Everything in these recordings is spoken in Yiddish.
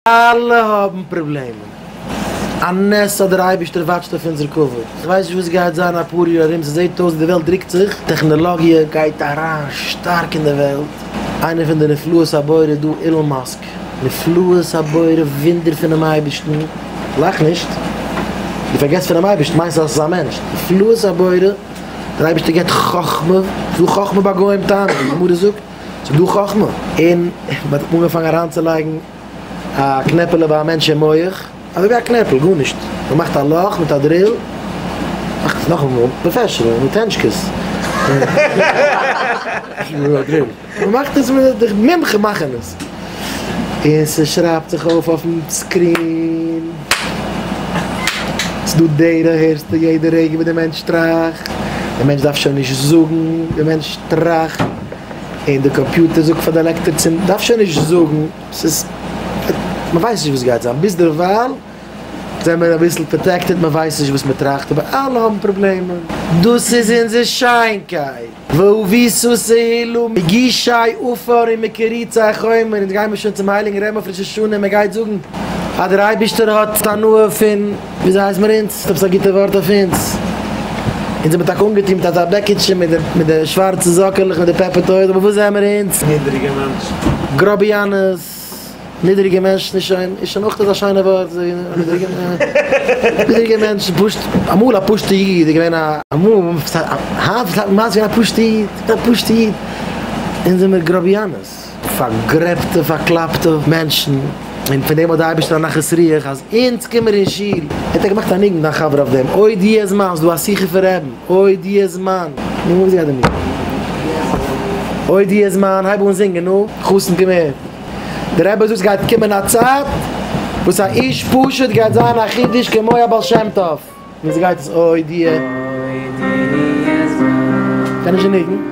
אלע האבן פראבלעמען. א נס אז דער אייבערשטער וואטשט אויף אונזער כבוד. איך ווייס נישט וואס גייט זיין אפאר יאר ארום, ס'זעט אויס ווי די וועלט דרוקט זיך, טעכנעלאגיע גייט אריין שטארק אין די וועלט, איינער פון די נפלאות הבורא איז דא אילאן מאסק, נפלאות הבורא וואונדער פונעם אייבערשטן, לאך נישט, דו פארגעסט פונעם אייבערשטן מיינסט אז עס איז א מענטש, נפלאות הבורא, דער אייבערשטער געבט חכמה, זאל חכמה ביי גוים טענה'ן, ווי די גמרא זאגט. ס'איז דא חכמה אין מ'האט אנגעפאנגען אריינצולייגן א קנעפעלע ביי א מענטש אין מח, אזוי ווי א קנעפל, גארנישט, מ'מאכט א לאך מיט א דריל, מאכט עס נאכאמאל, פראפעשענעל, מיט הענטשקעס, מ'מאכט עס מיט די מומחה מאכן עס, און ס'שרייבט זיך אויף אויפן סקרין. ס'דא דרך הערסטו יעדע רגע וואס די מענטש טראכט, די מענטש דארף שוין נישט זאגן, די מענטש טראכט און די קאמפיוטער זאגט פאר די עלעקטער צו מ'דארף שוין נישט זאגן, ס'איז מ'ווייסט נישט וואס גייט זיין, ביז דערווייל זעמער אביסל פראטעקטעד, מ'ווייסט נישט וואס מ'טראכט אבער אלע האבן פראבלעמען, דאס איז אונזער שיינקייט. ואוביסוס העילום מגישי עופר און מקריצי חומר, אונז גייען מיר שוין צום הייליגן רמב ם אויף ראש השנה און מען גייט זאגן אז דער אייבערשטער האט הנאה פון וויאזויהייסמעראונז, האט עפעס א גוטע ווארט אויף אונז, אונז האבן טאקע אנגעטון מיט אזא בעקיטשע מיט די שווארצע זאקעלעך מיט די פעפער טויז, אבער וואס זעמער אונז? נידעריגע מענטשן. גראביאנעס. נידריגע מענטש נישט שיין איז שוין אויך אזא שיינע ווארט נידריגע מענטש פשוט אמאל א פשוטע איד איז געווען א פשוטע איד א פשוטע איד אונז זעמיר גראביאנעס פארגרעבטע פארקלאפטע מענטשן און פון דעם האט די אייבערשטער א נחת רוח אז אונז קומען אין שול ער האט געמאכט א ניגון דיין חבר אויף דעם אוי די אז מיינסט דו א שיחה פון רעבן. אוי דו איז מיין. נו וואס גייט דיר מיר. אוי דו איז מיין הייב אן זינגען נו. חתן קום הער. דער רבי זאגט ס'גייט קומען א צייט וואס א איש פשוט גייט זיין א חידוש כמו א בעל שם טוב. נו וואס גייט עס אוי דו. קען נישט די ניגון.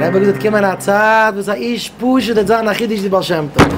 רבי האט געזאגט קומען א צייט וואס א איש פשוט וועט זיין א חידוש די בעל שם טוב.